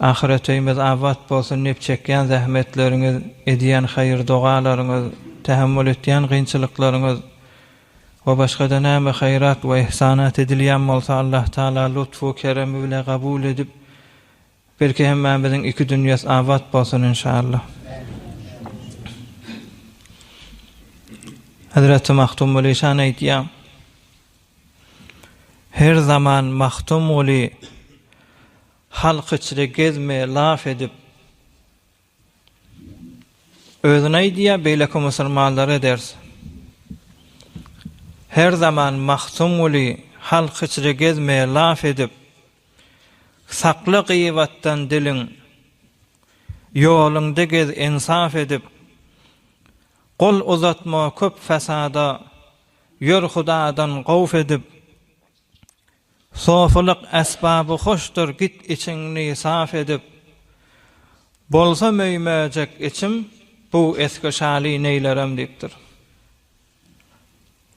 Ahyret öýümiz abat bolsun nep çekýän zähmetleriňiz edýän haýyr dogalaryňyz tähemmül etýän gynçylyklaryňyz we başgada näme haýyrat we ihsanat edilýän bolsa Allah taala lutfu keremi bile gabul edip belki hemmämiziň iki dünýäs abat bolsun inşallah. Hezreti Mahtumguly şan aýtýa Her zaman Mahtumguly Halk içre gezme laf edip. Özün aýdýa beýleki musulmanlar eders. Her zaman Magtymguly halk içre gezme laf edip. Sakla gyýbatdan diliň. Ýoluňda gez ensaf edip. Gol uzatma köp fasada. Ýör hudadan gowf edip. Sofulyk esbaby hoşdur git içiňni saf edip Bolsa möýmejek içim bu esgi şaly neýlerem diýipdir.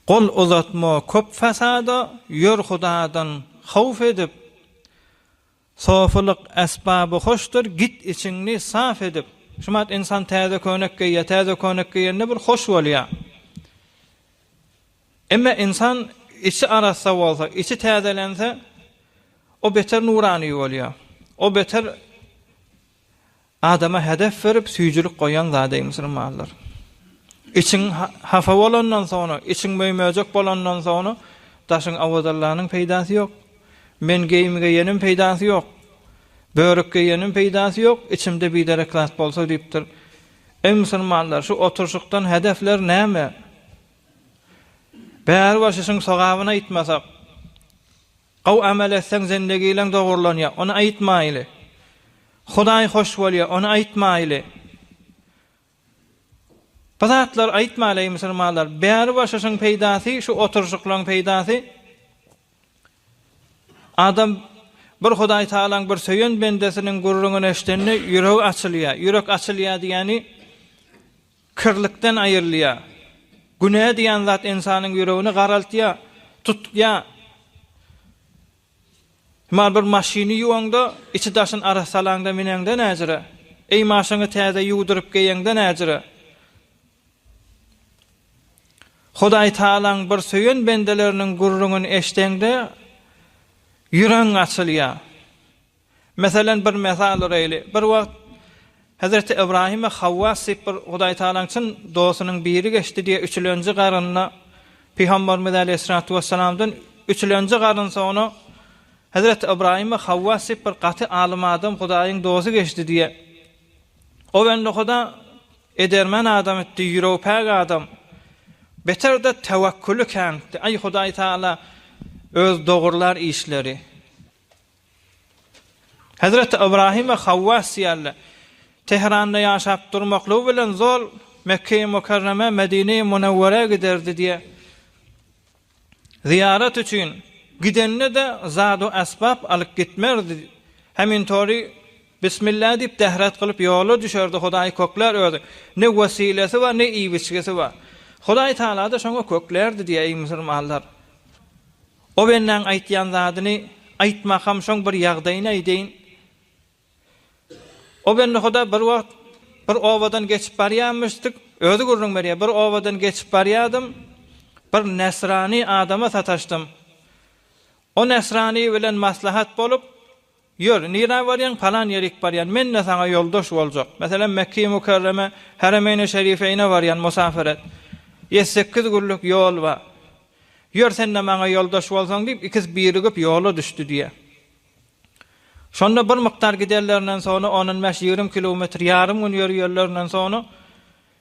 Gol uzatma köp fasada ýör hudadan howf edip Sofulyk esbaby hoşdur, git içiňni saf edip. Şumat ynsan täze köýnek geýýär, täze köýnek geýende bir hoş bolýar. Emme ynsan içi arassa bolsa, içi täzelense, o beter nurany bolýar. O beter Adama hedef berip süýjülik goýan zady musulmanlar. Içiň hapa bolandan soňra, içiň möýmejek bolandan soňra daşyň awadallanyň peýdasy ýok. Men geýim geýenim peýdasy ýok. Börük geýenim peýdasy ýok, içimde biderek zat bolsa diýipdir. Eý musulmanlar, şu oturşykdan hedefler näme? Bäri bir şişiň sogabyny aýtmasak. Gowy amel etseň zendegileň dogrulanýar, ony aýtmaýly. Hudaý hoş bolýar, ony aýtmaýly. Bu zatlary aýtmaýly eý musulmanlar. Bäri boşaşyň peýdasy, şu oturyşyklaň peýdasy. Adam bir Hudaý Tagalaň bir söýen bendesiniň gürrüňini eşdende ýüregi açylýar. Ýürek açylýar diýýäni. Kirlikden aýrylýar. Günä diýen zat ynsanyň ýüregini garaltýar, tutýar. Emma bir maşyny ýuwaňda, içi-daşyny ara salaňda mineňde näjire? Eý maşyňy täze ýuwduryp geýeňde näjire? Hudaý Tagalaň bir söýen bendeleriniň gürrüňini eşdeňde ýüregiň açylýar. Meselen, bir mysal uraýly. Bir wagt Hezreti Ybraýyma Hawwas diýip bir Hudaý Tagalaň çyn dostunyň biri geçdi diýe üçülenji garynda Pygambarymyz Aleýhissalatu Wessalamdan üçülenji garyn soňra Hezreti Ybraýyma Hawwas diýip bir gaty alym adam Hudaýyň dosy geçdi diýe O bendehuda edermen adam etdi, ýüregipäk adam. Beterde tewekküli känti. Aý Hudaý Tagala öz dogurlar işleri. Hezreti Ybrahim we Hawwa syýaly Tehranda ýaşap durmaklygy bilen zol Mekgeýi Mukarreme, Medineýi Munewwerä giderdi diýe zyýarat üçin gidende-de zad-u esbap alyp gitmerdi. Hemintori Bismillah diýip dehret gylyp ýola düşerdi, Hudaýy köklär özi. Ne wesilesi bar, ne iýip-içgisi bar. Hudaý Tagala-da şoňa köklärdi diýeýin musulmanlar. O bendäň aýtýan zadyny aýtmakam şoň bir ýagdaýyny aýdaýyn. O bendehuda bir wagt bir obadan geçip barýamyşdyk, özi gürrüň berýär, bir obadan geçip barýadym, bir nesrani adama sataşdym. O nesrani bilen maslahat bolup, Ýör, nirä barýaň? Palan ýerik barýan. Men-de saňa ýoldaş boljak. Meselem, Mekge-i Mükerreme, Heremeýne Şerifeýne barýan musafer et. Ýedi-sekiz günlük ýol bar. Ýör, sen-de maňa ýoldaş bolsaň, diýip, ikisi birigip ýola düşdi diýýär. Şonda bir mukdar gidenlerinden soňra, on-on bäş-ýigrimi kilometr ýarym gün ýörýänlerinden soňra,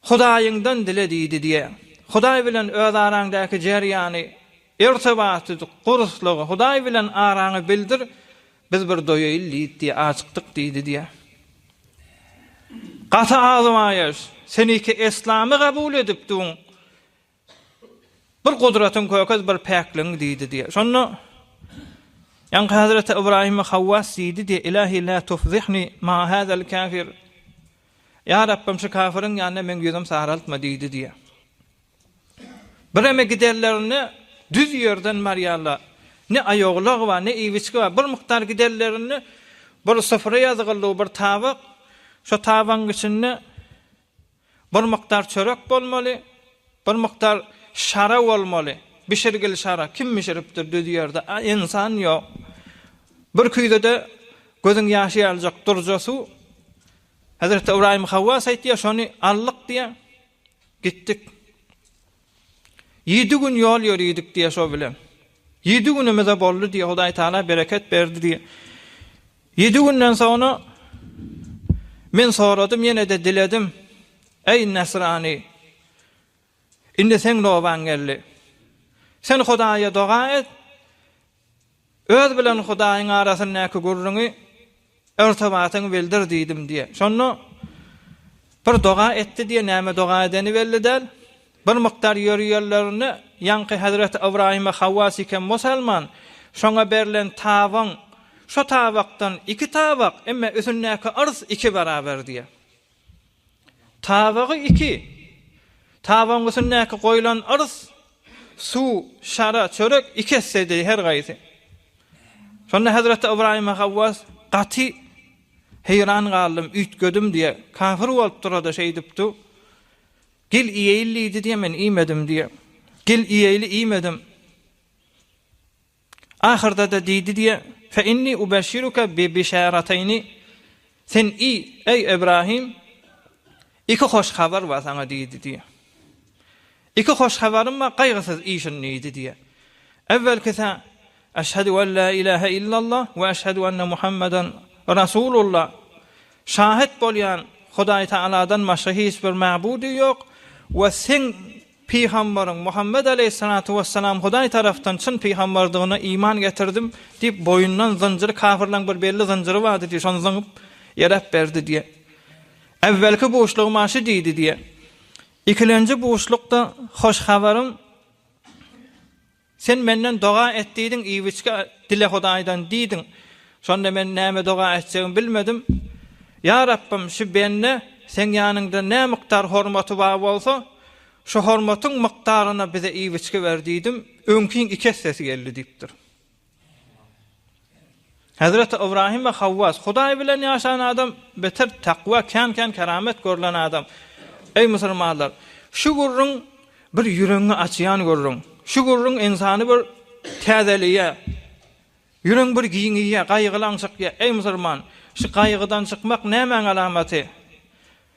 Hudaýyňdan dile diýdi diýe. Hudaý bilen öz araňdaky jerýany, irtibaty, guruslygy, Hudaý bilen araňy bildir, biz bir doýaýyl diýdi diýe, ajykdyk diýdi diýe. Gaty azmaýaş, sen iki eslamy gabul edip duň, Bir gudratyň kökez bir päkligiň diýdi diýe. Şonda Ýaňky Hazreti Ybraýyma Hawwas diýdi diýe, Ilahi la tufzihni ma hazal kafir. Ýa Rabbym şu kafirin ýanyna meň ýüzüm saraltma diýdi diýe. Bireme giderlerinde düz ýerden barýarlar. Ne aýoglag bar, ne iýbiçgi bar. Bir mukdar giderlerinde bir sufra ýazgyldy, bir tabak. Şo tabagyň içinde Bir mukdar çörek bolmaly, bir mukdar şara bolmaly, bişirgili şara, kim bişiripdir düz ýerde, a ynsan ýok. Bir küýzede gözüň ýaşy ýalyjak durja suw. Hezreti Ybraýym Hawwas aýtýar, şony aldyk diýýär. Gitdik. Ýedi gün ýol ýöridik diýýär şo bilen. Ýedi günümize boldy diýýär, Hudaý Tagala bereket berdi diýýär. Ýedi günden soňra men soradym, ýene-de diledim, Eý, nesrany, indi seň nobaň geldi. Sen Hudaýa doga et, Öz bilen Hudaýyň arasyndaky gürrüňi irtibatyňy bildir diýdim diýýär. Şonda bir doga etdi diýýär, näme doga edeni belli däl. Bir mukdar ýörýärlerinde ýaňky Hezreti Ybraýyma Hawa sikem musalman, şoňa berlen tabyň şu tabakdan iki tabak, emma üsündäki yrs iki baraber diýýär. Tabagy iki. Tabagyň üstündäki goýlan yrys, suw, şara, çörek iki essedi her gaýsy. Şonda hezreti Ybraýyma Gawwas, Gaty heýran galdym, üýtgedim diýe, kafir bolup dur-da şeýdip du. Gel iýeýli diýdi diýe, men iýmedim diýe. Gel iýeýli iýmedim. Ahyrda-da diýdi diýe, Fe inni ubeshşiruke bi bişarateyni, Sen i, eý, Ibrahim, iki hoş habar bar saňa diýdi diýe. Iki hoş habarym bar, gaýgysyz işin diýdi diýe. Ewwelkisi, Eşhedü en la ilahe illallah we eşhedü enne Muhammeden Rasulullah, Şahyt bolýan Hudaýtagaladan başga hiç bir mäbudy ýok we Sen Pygambaryň, Muhammet aleýhissalatu wessalam, Hudaý tarapdan çyn pygambardygyna iman getirdim, diýip, boýundan zynjyry, kafirleň bir belli zynjyry bardy diýip, şony zyňyp, ýeläp berdi diýýär. Äwwelki buşlugy maňa şu diýdi diýýär. Ikilenji buşlukda hoş habaryň Sen menden doga et diýdiň, iwiçge dile Hudaýdan diýdiň. Şonda men näme doga etjegimi bilmedim. Ýa Rabbym, şu bende Seň ýanyňda nämukdar hormaty bar bolsa, şu hormatyň mukdaryna bize iwiçge ber diýdim, öňkiň iki essesi geldi diýipdir. Hezreti Ybrahim we Hawwas, Hudaý bilen ýaşan adam beter takwa, kän-kän keramet görlen adam. Eý musulmanlar! Şu gürrüň bir ýüregiňi açýan gürrüň. Şu gürrüň ynsany bir täzeleýär. Ýüregiň bir giňeýär, gaýgylaň çykýar. Eý musulman! Şu gaýgydan çykmak nämäň alamaty?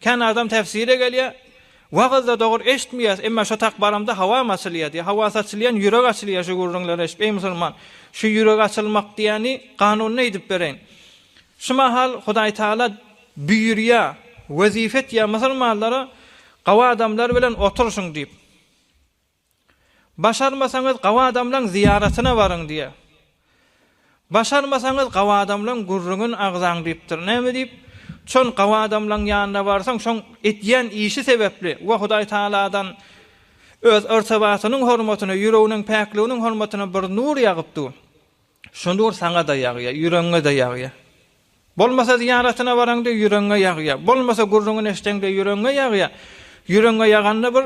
Kän adam tefsire gelýär, wagyzda dogry eşitmeýäs, emma şo tak baramda hawam açylýar diýýär. Hawa saçylýan ýürek açylýar şu gürrüňleri eşidip. Eý musulman, şu ýürek açylmak diýýäni kanunyny eýdip bereýin. Şu mahal Hudaý Taala buýurýar, wezipe etýär musulmanlara, Gawa adamlar bilen oturyşyň diýip. Başarmasaňyz gabadamlaň zyýaratyna baryň diýýär. Başarmasaňyz gabadamlaň gürrüňin agzaň diýipdir. Näme diýip? Çon gabadamlaň ýanyna barsaň, şoň edýän işi sebäpli we Hudaý Tagaladan öz yrtybatynyň hormatyna, ýüreginiň päkliginiň hormatyna bir nur ýagypdy. Şonda ol saňa-da ýagýar, ýüregiňe-de ýagýar. Bolmasa zyýaratyna baraňda ýüregiňe ýagýar. Bolmasa gürrüňini eşdeňde ýüregiňe ýagýar. Ýüregiňe ýaganda bir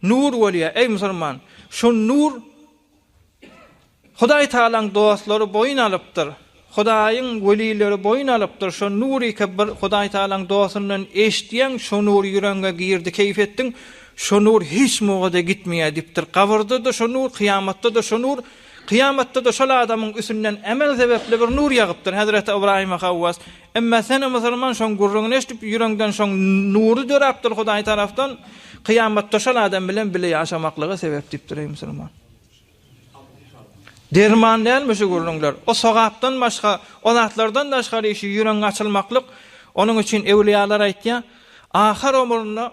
nur bolýar. Eý musulman, şu nur Hudaý Tagalaň dostlary boýun alypdyr. Hudaýyň welileri boýun alypdyr. Şo nuryka bir Hudaý Tagalaň dostundan eşitýäň, şo nur ýüregiňe girdi, keýp etdiň. Şo nur hiç mugada gitmeýär diýipdir. Gabyrda-da şo nur, kyýamatda-da şo nur. Kyýamatda-da şol adamyň üsünden emel sebäpli bir nur ýagypdyr, hezreti Ybraýyma Hawwas, Emma sen-ä musulman, şoň gürrüňini eşidip, ýüreňden şoň nury döräpdir Hudaý tarapdan, kyýamatda şol adam bilen bile ýaşamaklyga sebäp diýipdir, eý musulman! Derman dälmi şu gürrüňler? O sogapdan başga, o zatlardan daşgary işi ýüregiň açylmaklyk, onuň üçin ewliýalar aýtýar, ahyr omrunda,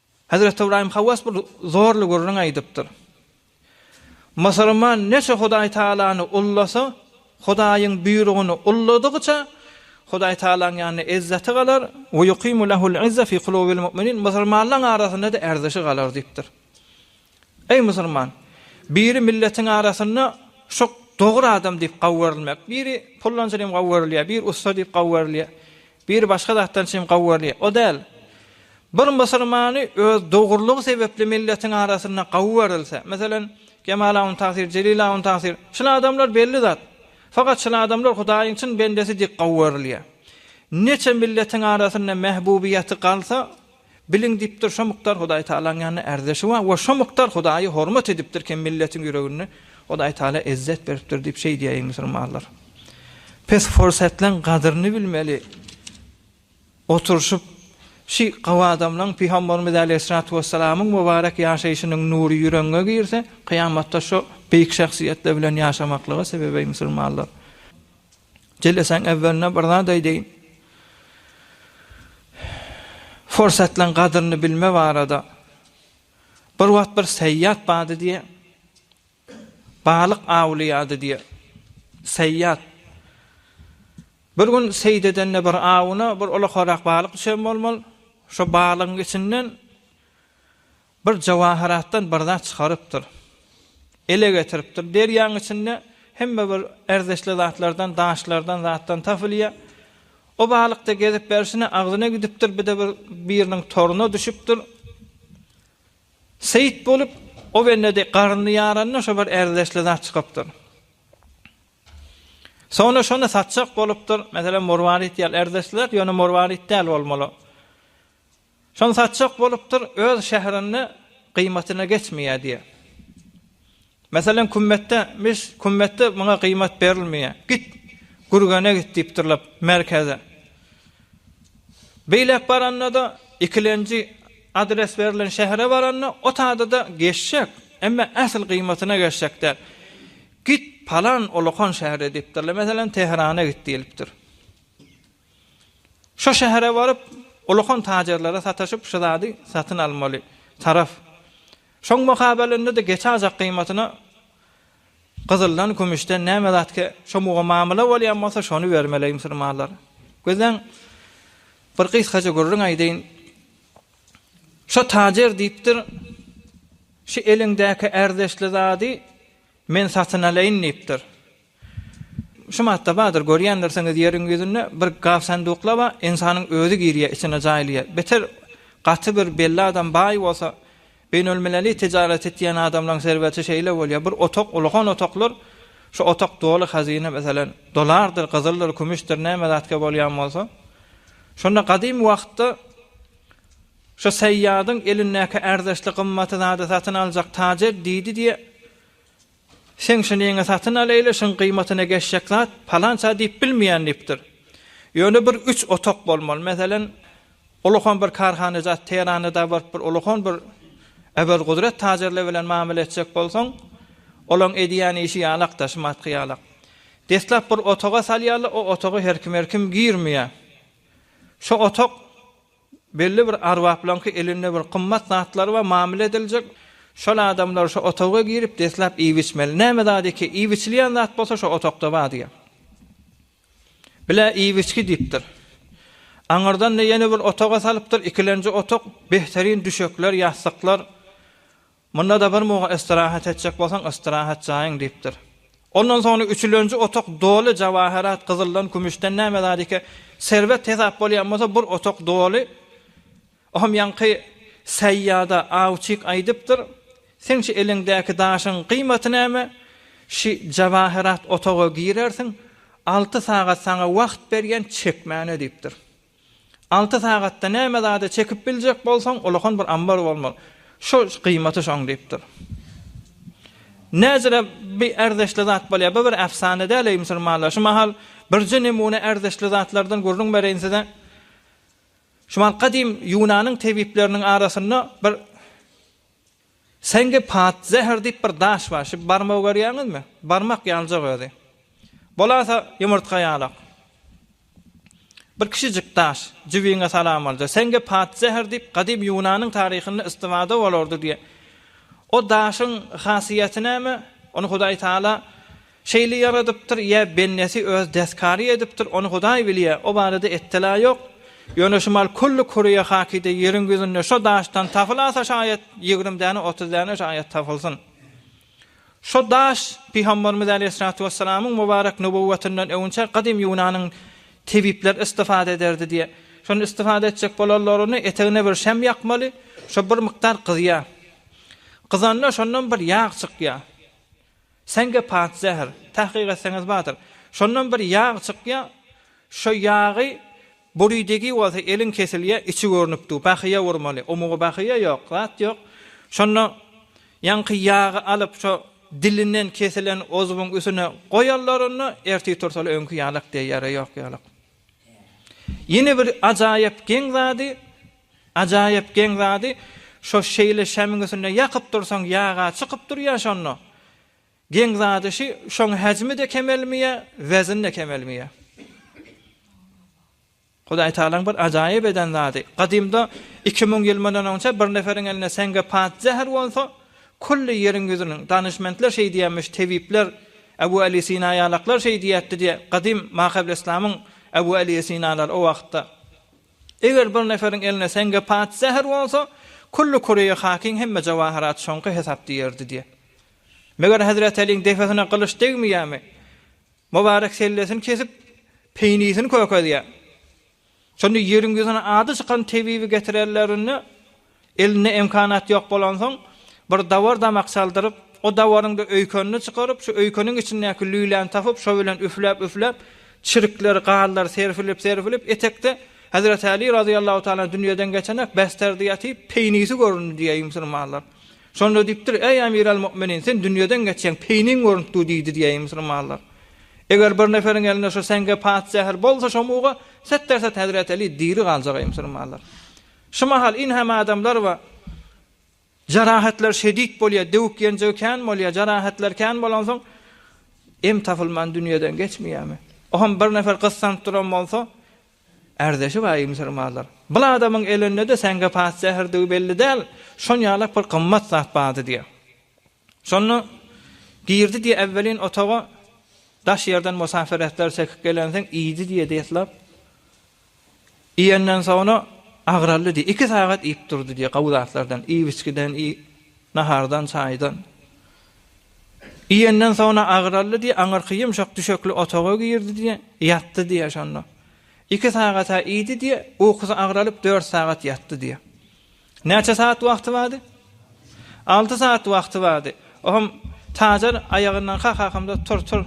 Hezreti Ybraýym hawas bir zorly gürrüň aýdypdyr. Musulman neçe Hudaý Tagalany ullasa, Hudaýyň buýrugyny ulladygyça, Hudaý Tagalaň ýanynda ezzeti galar, we yukimu lehul izza fi kulubil mu'minin, musulmanlaň arasynda-da erzeşi galar diýipdir. Eý musulman, biri milletiň arasynda şok dogry adam diýip gawy görülmek, biri pullançy diýip gawy görülýär, biri ussa diýip gawy görülýär, Biri başga zatdan çyn gowy görýär. O däl. Bir musulmany öz dogrulygy sebäpli milletiň arasynda gowy görülse, meselem, Kemal Awun Tagsir, Jelil Awun Tagsir, şul adamlar belli zat. Fakat şul adamlar Hudaýyň çyn bendesi dik gowy görülýär. Neçe milletiň arasynda mähbubiýeti galsa, Biliň diýipdir, şo mukdar Hudaý Tagalaň ýanynda ärdeşi bar we şo mukdar Hudaýy hormat edipdir kem milletiň ýüreginde Hudaý Tagala ezzet beripdir diýip şeýdýäýiň musulmanlar. Pes fursatlaň gadyryny bilmeli oturyşyp şi gawadamlaň Pygambarymyz Aleýhissalatu Wessalamyň mubarek ýaşaýşynyň nury ýüregiňe girse kyýamatda şo beýik şahsyýetler bilen ýaşamaklyga sebebeý musulmanlar. Jelesäň äwwelinde bir zat aýdaýyn. Fursatlaň gadyryny bilme barada. Bir wagt bir seýýat bardy diýe. Balyk awlaýardy diýe. Seýýat. Bir gün seýd edende bir awuna bir ulak-ulak balyk düşen bolmaly. Şo balygyň içinden Bir jawaharatdan bir zat çykarypdyr. Ele getiripdir. Derýaň içinde hemme bir erzişli zatlardan, daşlardan, zatdan tapylýar. O balykda gezip berşine agzyna gidipdir, bir-de bir biriniň toruna düşüpdir. Seýit bolup, o bende-de garnyny ýaranda şo bir erzişli zat çykypdyr. Soňra şony satjak bolupdyr. Meselem, morwarit ýaly erzişli zat, ýöne morwarit däl bolmaly. Soň satjak bolupdyr, öz şährinde gyýmatyna geçmeýär diýýär. Meselem, Kümmetde, mis, Kümmetde muňa gyýmat berilmeýär. Git, Gürgene git diýipdirler, merkeze. Beýläk baranda-da, ikilenji adres berlen şähere baranda, o taýda-da geçjek, emma ähli gyýmatyna geçjek däl. Git, palan, ulakan şähere diýipdirler. Meselem, Tehrana git diýlipdir. Şo şähere baryp, ullakan tajerlere sataşyp, şu zady satyn almaly taraf. Şoň mukabalynda-da geçajak gyýmatyna gyzyldan, kümüşden näme zatke şo muga mamyla bolýan bolsa, şony bermeli eý musulmanlar. Gözleň, bir gysgaja gürrüň aýdaýyn. Şo tajer diýipdir, Şu eliňdäki ärdeşli zady men satyn alaýyn diýipdir. Şu matda bardyr, görýändirsiňiz, ýeriň ýüzünde bir gap sanduklar bar, ynsanyň özi girýär, içine jaýlaýar. Beter gaty bir belli adam baý bolsa, beýnelmileli tijarat etýän adamlaryň serweti şeýle bolýar, bir otag, ulgan otaglar, şu otag doly hazyna, meselem, dolardyr, gyzyldyr, kümüşdir, näme zatke bolýan bolsa. Şonda gadymy wagtda şu Saýýadyň elindäki ärdeşli gymmaty zady satyn aljak tajer diýdi diýe, Sen şu neňe satyn alaýly, şuň gyýmatyna geçjek zat palança diýip bilmeýän diýipdir. Ýöne bir üç otak bolmaly. Meselem, ulakon bir karhanajat Tehrana-da baryp bir ulakon bir Öwezgudret tajerle bilen mamele etjek bolsaň, olaň edýän işi ýalakda, şumatky ýalak. Deslap bir otaga salýarlar, o otaga her kim-her kim girmeýär. Şo otak. Belli bir arbaplaňky elinde bir gymmat zatlar bar, mamile ediljek. Şol adamlar şo otaga girip, deslap iýip-içmeli. Näme zat eke, iýip-içilýän zat bolsa şo otagda bar diýýär. Bilä iýip-içgi diýipdir. Aňyrdan-da ýene bir otaga salypdyr, ikilenji otag, behterin düşekler, ýassyklar, Munda-da bir mugt istirahat etjek bolsaň, istirahat jaýyň, diýipdir. Ondan soňra üçülenji otak doly jawaherat, gyzyldan, kümüşden, näme zadike serwet hesap bolýan bolsa, bir otak doly, ohem ýaňky Seýýada awçyk aýdypdyr, Seň şu eliňdäki daşyň gyýmaty näme? Şi jawaherat otaga girersiň, alty sagat saňa wagt berýän, çekmäne, diýipdir. Alty sagatda näme zady çekip biljek bolsaň, ulakan bir ambar bolmaly. Şo gyýmaty şoň diýipdir. Näzire bi ärzeşli zat bolýar. Bu bir äfsana däl eý musulmanlar. Şu mahal birje nemune ärzeşli zatlardan gürrüň bereýin size. Şu mahal gadym Ýunanyň tebipleriniň arasynda bir Seňge pat zäher diýip bir daş bar şi barmagy görýäňizmi? Barmak ýaljak özi. Bolasa ýumurtga ýalak. Bir kiçijik daş jübiňe salan bolja. Seňge pat zäher diýip gadym ýunanyň taryhynda istifada bolardy diýe. O daşyň hasiýeti näme? Ony Hudaý Taala Şeýle ýaradypdyr, ýa bendesi öz deskary edipdir, ony Hudaý bilýä, o barada ettela ýok. Ýöne şumal külli küreýe hakyda ýeriň ýüzünde şo daşdan tapylasa şaýat ýigrimi däne, otuz däne şaýat tapylsyn. Şo daş Pygamberimiz äleyhissalatu wessalamyň mubarek nübüwwetinden öwünçä gadym ýunanyň tebipleri istifada ederdi diýä. Şony istifada etjek bolanlaryny etegine bir şam ýakmaly, şo bir mukdar gyzýa. Gyzanda şondan bir ýag çykýa. Sen gep at zäher. Tahkyk etseňiz bardyr. Şondan bir ýag çykýa şo ýagy buridigi bolsa eliň kesilýä içi görnüp dur bahyýa urmaly omugy bahyýa ýok zat ýok şonda ýaňky ýagy alyp şo dilinden kesilen ozubyň üsüne goýalarynda ertir tursaly öňki ýalak deýýäre ýok ýalak. Ýene bir ajaýyp geň zady, ajaýyp geň zady, şo şeýle şämiň üstünde ýakyp dursaň ýag-a çykyp durýa şonda. Geň zady şi, şoň häjmi-de kemelmeýä, wezin-de kemelmeýä. Hudaý Tagalaň bir ajaýyp eden zady, gadymda iki müň ýyl mundan onça bir neferiň elinde seňge pat zäher bolsa, Külli ýeriň ýüzüniň, Danyşmentler şeý diýämiş, tebipler, Ebu Äli Sina ýalaklar şeý diýäpdi diýe, gadym Mahebleslamyň Ebu Äli Esinalary o wagtda. Eger bir neferiň eline seňge pat zäher bolsa, külli Koreýa hakyň hemme jawaharat şoňky hesap diýerdi diýe. Meger Hezret Äliň depesine gylyç degmeýämi? Mubarek sellesini kesip, peýnisini kökezýär. Şonda ýeriň ýüzüne ady çykan tebibi getirerlerinde, elinde emkanat ýok bolansoň, bir dawar-damak çaldyryp, o dawaryň-da öýkenini çykaryp, şu öýkeniň içindäki lüläni tapyp, şo bilen üfläp-üfläp, çirkler, gazlar serpilip-serpilip, etekde Hezreti Aly razyýallahu taala dünýeden geçenek, besderdýaty, peýnisi göründi diýýär müsülmanlar. Şonda diýipdir, Eý, Emir al-Mu'minin, sen dünýeden geçýäň, peýniň görüntdi diýdi diýäýi musulmanlar. Eger bir neferiň elinde şu seňge pat zäher bolsa şo muga, setdersed Hezreti Eli diri galjak eý musulmanlar. Şu mahal in hem adamlar we jarahatlar şedid bolýar, döwük-ýenjigi kän bolýar, jarahatlar kän bolansoň em tapylman dünýeden geçmeýärmi? Oham bir nefer gyssanyp duran bolsa, Ärdeşi bar, eý musulmanlar! Bul adamyň elinde-de säňge pas zäherdigi belli däl, şon ýalak bir gymmat zat bardy, diýýär. Şonda girdi diýýär, Äwwelin otaga daş ýerden musapir etler çekip gelensiň, iýdi diýýär, deslap. Iýenden soňra agraldy diýýär. Iki sagat iýip durdy diýýär, gowy zatlardan, iýip-içgiden, nahardan, çaýdan. Iýenden soňra agraldy diýýär, aňyrky ýumşak düşekli otaga girdi diýýär, ýatdy diýýär şonda. Iki sagat-a iýdi diýýär, ukusy agralyp dört sagat ýatdy diýýär. Näçe sagat wagty bardy? Alty sagat wagty bardy. Oňam Tajar aýagyndan kakakamda tur, tur.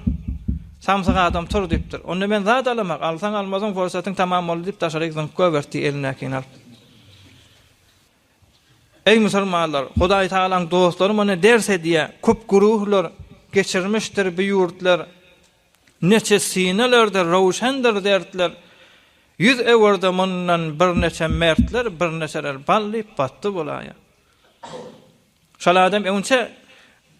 Samsyk adam tur diýipdir. Onda men zat alamak, alsaň-almasaň pursatyň tamam boldy diýip daşaryk zyňyp goýberdi elindäkini alyp. Eý musulmanlar! Hudaý Tagalaň dostlary muny ders edýär, köp güruhlar geçirmişdir bu ýurtlar, neçe synalerde röwşendir dertler, ýüz öwürdi mundan birneçe mertler, birneçeler bal diýip batdy bulaýa. Şol adam öňçe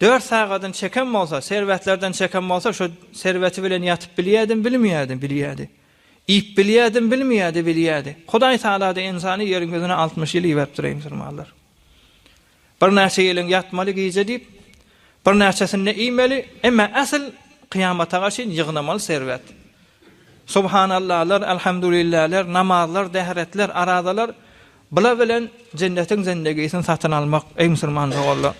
dört sagadyn çeken bolsa, serwetlerden çeken bolsa, şo serweti bilen ýatyp bilýädim, bilmeýädim, bilýädi. Iýip bilýädim, bilmeýädi, bilýädi. Hudaý tagala-da ynsany ýeriň ýüzüne altmyş ýyl iberipdir, eý musulmanlar. Birnäçe ýylyň ýatmaly gije diýip, birnäçesinde iýmeli, emma äsl kyýamata garşyn ýygnamaly serwet. Subhanallalar, alhamdulilläler, namazlar, dehretler, arazalar, Bular bilen jennetiň zendegisini satyn almak, eý musulman doganlar!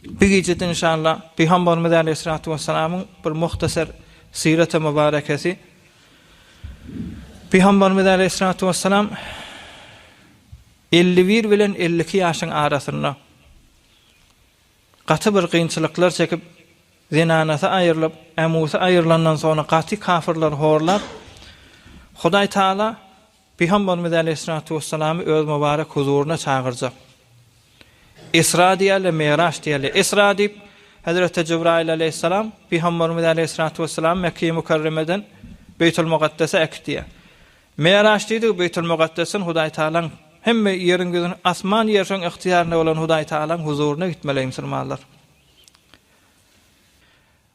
Bu gijede inşallah Pygambarymyz aleýhissalatu wessalamyň bir muhtasar syraty mubarekesi Pygambarymyz aleýhissalatu wessalam elli bir bilen elli iki ýaşyň arasynda gaty bir kynçylyklar çekip, zenanasy aýrylyp, ämusy aýrylandan soňra gaty kafirleri horlap, Hudaý Taala Pygamberimiz aleýhissalatu wessalamy öz mübarek huzuryna çagyrjak. Isra diýerler, Miraç diýerler. Isra diýip, Hezreti Jibraýyl aleýhissalam Pygamberimiz aleýhissalatu wessalamy Mekgeýi Mükerremeden Beýtul Mugaddese äkitýär. Miraç diýdigi Beýtul Mugaddesden Hudaý Tagalaň hemme ýeriň ýüzüni, asman ýer şoň ygtyýarynda bolan Hudaý Tagalaň huzuryna gitmeli eý musulmanlar.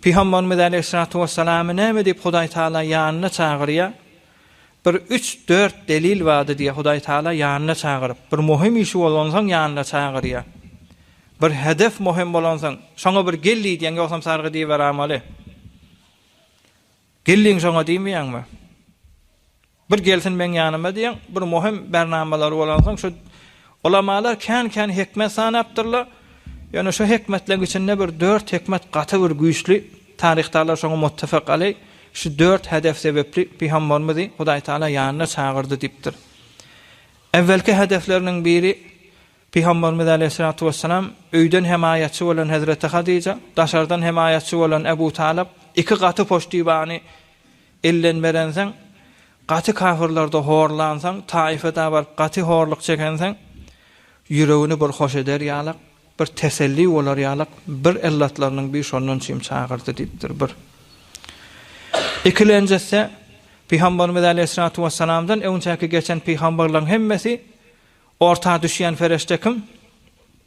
Pygamberimiz aleýhissalatu wessalamy näme diýip Hudaý Taala ýanyna çagyrýar? Bir üç, dört delil bardy diýýär Hudaý Taala ýanyna çagyryp. Bir möhüm işi bolansoň ýanyna çagyrýar. Bir hedef möhüm bolansoň, şoňa bir gel diýýär, ýogsam sargy diýiberamaly. Geldiň şoňa diýmeýärmi? Bir gelsin meň ýanyma diýen bir möhüm bernamalar bolansoň şu Ulamalar kän kän hikmet sanapdyrlar. Ýöne şu hikmetleň içinde bir dört hikmet gaty bir güýçli. Taryhdalar şoňa muttafak aleý. Şu dört hedef sebepli Pygamberimizi Hudaý Taala ýanyna çagyrdy diýipdir. Ewwelki hedefleriniň biri Pygamberimiz aleýhissalatu wessalam öýden hemaýatçy bolan Hezreti Hadija, daşardan hemaýatçy bolan Ebu Talyp iki gaty poştibany Elden berenseň, gaty kafyrlarda horlansaň, Taifede baryp gaty horluk çekenseň, ýüregini bir hoş eder ýalak, bir teselli bolar ýalak, bir illatlarynyň bir şondan çyn çagyrdy diýipdir, bir. Ikilenjisi, Pygamberimiz aleýhissalatu wessalamdan öňçäki geçen pygamberleriň hemmesi orta düşýän ferişde kim?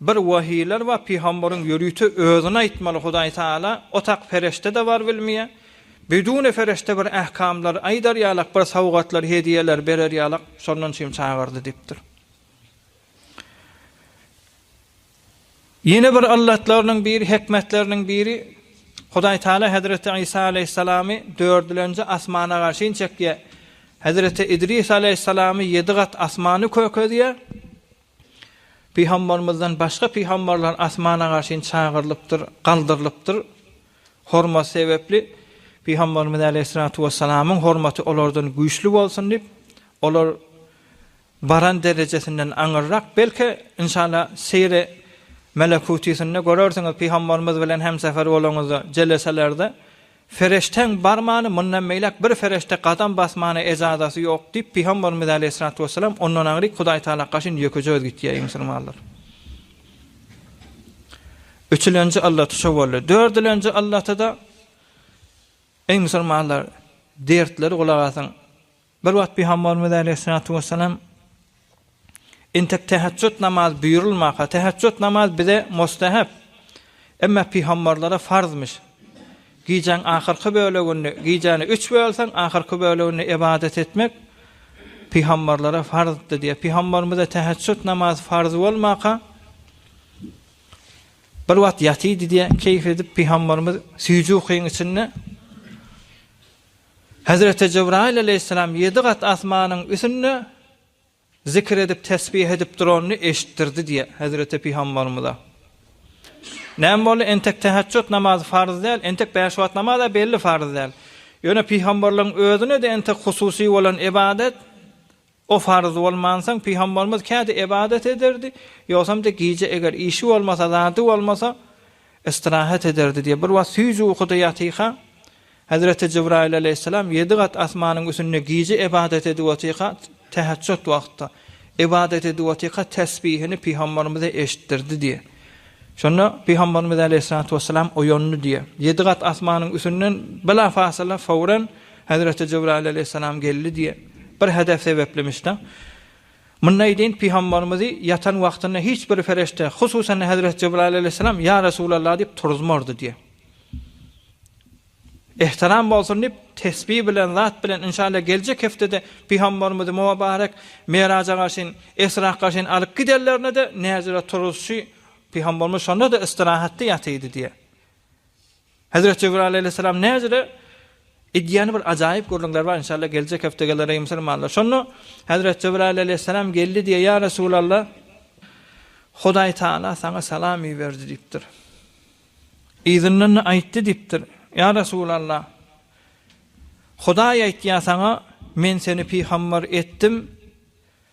Bir wahylar we pygambaryň ýörite özüni aýtmaly Hudaý Taala otak pereştede bar bilmýä. Bidune fereşte bir ähkamlar aýdar ýalak bir sowgatlar hediýeler berer ýalak şondan üçin çagyrdy dipdir. Ýene bir yllatlarynyň biri hikmetleriniň biri Hudaý Taala Hezreti Isa Aleýhissalamy dördülenji asmana garşyn çekýä. Hezreti Idris Aleýhissalamy ýedi gat asmany kökezýä. Pygambarymyzdan başga pygambarlar asmana garşyn çagyrylypdyr, galdyrylypdyr. Hormat sebäpli Pygambarymyz aleýhissalatu wessalamyň hormaty olardan güýçli bolsun diýip, olar baran derejesinden aňyrrak, belki, inşalla, seýri melekutysynda görersiňiz, pygambarymyz bilen hemsefer bolanyňyzda, jeleselerde Feriştäň barmany, mundan beýläk bir ferişde gadam basmana ejazasy ýok, diýip, Pygamberimiz äleyhissalatu wessalam, Ondan aňryk Hudaý Tagala gaşyn ýökeje öz gitýär, eý musulmanlar! Üçülenji yllaty şo boldy. Dördülenji yllaty-da, Eý musulmanlar, dertleri gulak asyň! Bir wagt Pygambarymyz aleýhissalatu wessalam, Entek täheçjut namazy buýrulmaka, täheçjut namazy bize mustahap, emma pygambarlara farzmyş. Gijäň ahyrky böleginde, gijäni üç bölseň, ahyrky böleginde ybadat etmek pygambarlara farzdy diýýär. Pygambarymyza täheçjut namazy farz bolmaka, bir wagt ýatydy diýýär, keýp edip Pygambarymyz süýji ukyň içinde, Hezreti Jebraýyl aleýhissalam ýedi gat asmanyň üsünde zikr edip, tesbih edip duranyny eşitdirdi diýýär hezreti pygambarymyza. Näme boldy, entek täheçjut namazy farz däl, entek bäş wagt namaz-a belli farz däl. Ýöne pygambarlaryň özüne-de entek hususy bolan ybadat O farz bolmansoň, pygamberimiz käte ybadat ederdi, ýogsam-da gije eger işi bolmasa, zady bolmasa, ystrahat ederdi diýip, bir wagt süýji ukuda ýatyka, Hezreti Jibraýyl alaýhyssalam ýedi gat asmanyň üsünde gije ybadat edip otyka, täheçjut wagtda, ybadat edip otyka tesbihini pygamberimize eşitdirdi diýip, şonda pygamberimiz alaýhyssalatu wessalam oýandy diýip, ýedi gat asmanyň üsünden bilafasyla, fowran, Hezreti Jybraýyl aleýhissalam geldi diýen bir hadys sebäplimişdä, mundaý deýin pygamberimizi ýatan wagtynda hiç bir perişde, hususan-da hezreti Jybraýyl aleýhissalam, Ýa Resulallah diýip turuzmardy diýen. Ihtiram bolsun diýip, tesbi bilen, zat bilen, inşallah geljek hepdede pygamberimizi muobarek Miraja garşyn, Isra garşyn alyp giderlerine-de näzire turuzşy pygamberimiz şonda-da istirahatda ýatydy diýen. Hezret Jebraýyl aleýhissalam näzire edýän bir ajaýyp gürrüňler bar inşallah geljek hepde geler musulmanlar. Şonda Hezret Jebraýyl aleýhissalam geldi diýýär ýa Resulallah Hudaý Taala saňa salam iberdi diýipdir. Yzyndan aýtdy diýipdir. Ýa Resulallah Hudaý aýtýar saňa men seni pygambar etdim.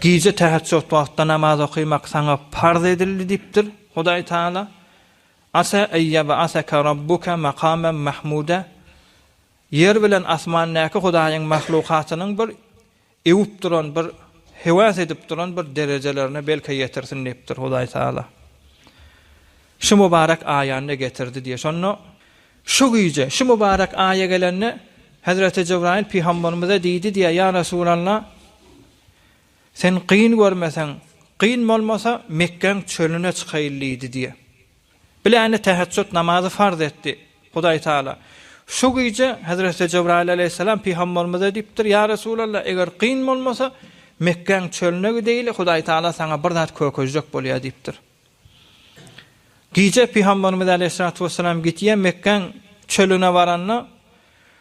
Gije täheçjut wagtda namaz okaýmak saňa parz edildi diýipdir, Hudaý Tagala, Asa en ýeb'aseke Rabbuke makamen mahmude, Ýer bilen asmandaky Hudaýyň mahlukatynyň bir ewüp duran, bir hewas edip duran bir derejelerine belki ýetirsin diýipdir, Hudaý Tagala. Şu mubarek aýanda getirdi diýýär. Şonda Şu gije, şu mübarek aýa gelende, Hezreti Jebraýyl pygamberimize diýdi diýýär, Ýa Resulalla, sen gyn görmeseň, gyn bolmasa, Mekgäň çölüne çykaýyl diýdi diýýär. Bilende täheçjut namazy farz etdi Hudaý Tagala. Şu gije Hezreti Jebraýyl aleýhissalam pygamberimize diýipdir, Ýa Resulalla, eger gyn bolmasa, Mekgäň çölüne gideýli, Hudaý Tagala saňa bir zat kökezjek bolýar diýipdir. Gije Pygamberimiz aleýhissalatu wessalam gitýän Mekgäň çölüne baranda,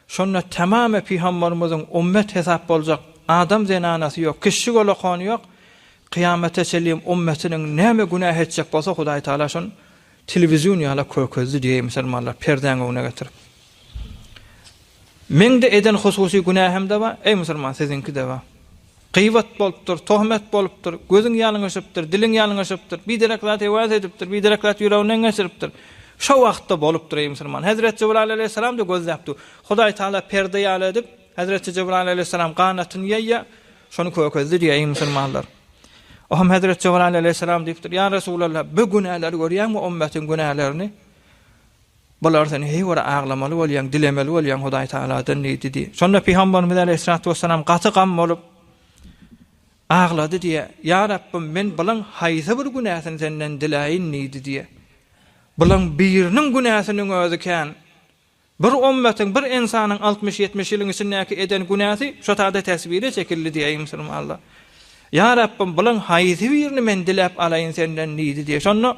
şonda tamamy Pygamberimiziň ummet hesap boljak adam zenanasy ýok, kişi golakony ýok, kyýamata çenlem ummetiniň näme günäh etjek bolsa Hudaý Taala şon telewizion ýala kökezdi diýeý musulmanlar perdäň öňüne getirip. Meňde eden hususy günähimde bar, eý musulman siziňkide bar. Gybat bolupdyr, tohmet bolupdyr, gözüň ýalňyşypdyr, diliň ýalňyşypdyr, biderek zat hewas edipdir, biderek zat ýüreginden geçiripdir. Şo wagtda bolupdyr, eý musulman. Hezreti Jebraýyl aleýhissalam-da gözläpdi. Hudaý Tagala perde ýaly edip, hezreti Jebraýyl aleýhissalam ganatyny ýaýýa, şony kökezdi diýýä, eý musulmanlar. Ohm hezreti Jebraýyl aleýhissalam diýipdir, Ýa Resulallah, bu günäleri görýäňmi, ummetiň günälerini? Bular sen heý bir aglamaly bolýaň, dilemeli bolýaň Hudaý Tagaladan diýdi. Şonda pygamberimiz aleýhissalatu wessalam gaty gam bolup aglady diýe. Ýa Rabbym men bulan haýsy bir günäsini senden diläýin diýdi diýe. Bulan biriniň günäsiniň özi kän. Bir ommatyň, bir ensanyň altmyş-ýetmiş ýylyň içindäki eden günäsi şo sada tesbire çekildi diýe eý musulmanlar. Ýa Rabbym bulan haýsy birini men diläp alaýyn senden diýdi diýe. Şonda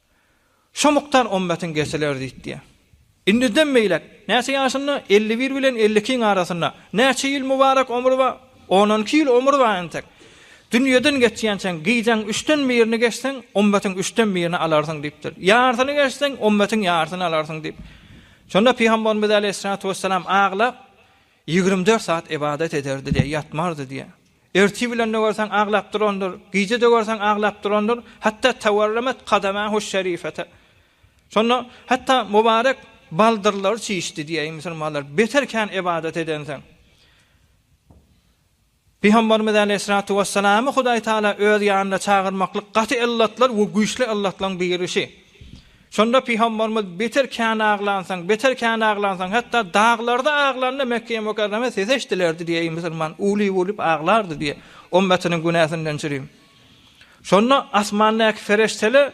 Şo mukdar ymmatyň kesiler diýdi. Indiden beýläk, näçe ýaşynda? Elli bir bilen elli ikiň arasynda. Näçe ýyl mübarek omry bar? On on iki ýyl omry bar entek. Dünýeden geçýänçäň, gijäň üçden birini geçseň, ymmatyň üçden birini alarsyň diýipdir. Ýarsyny geçseň, ymmatyň ýarsyny alarsyň diýip. Şonda Pygamberimiz aleýhissalatu wesselam aglap, Ýigrimi dört sat ybadat ederdi diýýär, ýatmardy diýýär. Ertir bilende görseň aglap durandyr, gije-de görseň aglap durandyr, hatda tawarramat kadamahu şerifete. Şonda hatda mubarek baldyrlary çişdi diýýär, eý musulmanlar, beter kän ybadat edensiň. Pygamberimiz aleýhissalatu wessalamy Hudaý Tagala öz ýanyna çagyrmaklyk gaty yllatlar we güýçli yllatlaň birisi. Şonda Pygamberimiz beter kän aglansaň, beter kän aglansaň, hatda daglarda aglanda Mekgeýe Mukarreme ses eşdilerdi diýýär musulman, uwlip-uwlip aglardy diýýär, ümmetiniň günäsinden çürim. Şonda asmandaky pereştele.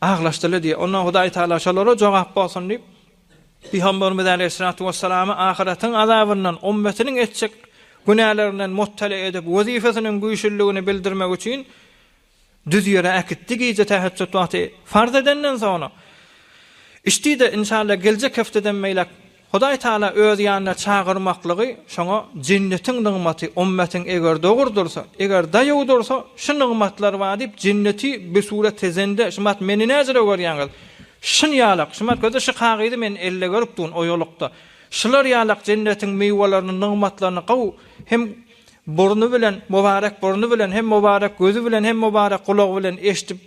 Aglaşdylar diýýär. Onda Hudaý Tagala şolara jogap bolsun diýip, Pygamberimiz aleýhissalatu wessalamy ahyretiň azabyndan, ummetiniň etjek günälerinden mubtela edip, wezipesiniň güýçliligini bildirmek üçin düz ýere äkitdi. Gije täheçjut wagty farz edenden soňra, Içdi-de, inşalla, geljek hepdeden beýläk Hudaý Taala öz ýanyna çagyrmaklygy şoňa jennetiň nygmaty, ymmatyň eger dogur dursa, eger daýaw dursa, şu nygmatlar bar diýip jenneti bir surat tezende, şumat meni näjire görýäňiz? Şun ýalak, şumat göze şu kagyzy men elde görüp durun oýalykda. Şular ýalak jennetiň miwelerini, nygmatlaryny gow hem burny bilen, mubarek burny bilen, hem mubarek gözi bilen, hem mubarek gulagy bilen eşdip,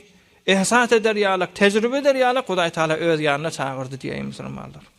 ehsas eder ýalak, tejribe eder ýalak Hudaý Taala öz ýanyna çagyrdy diýäýin musulmanlar.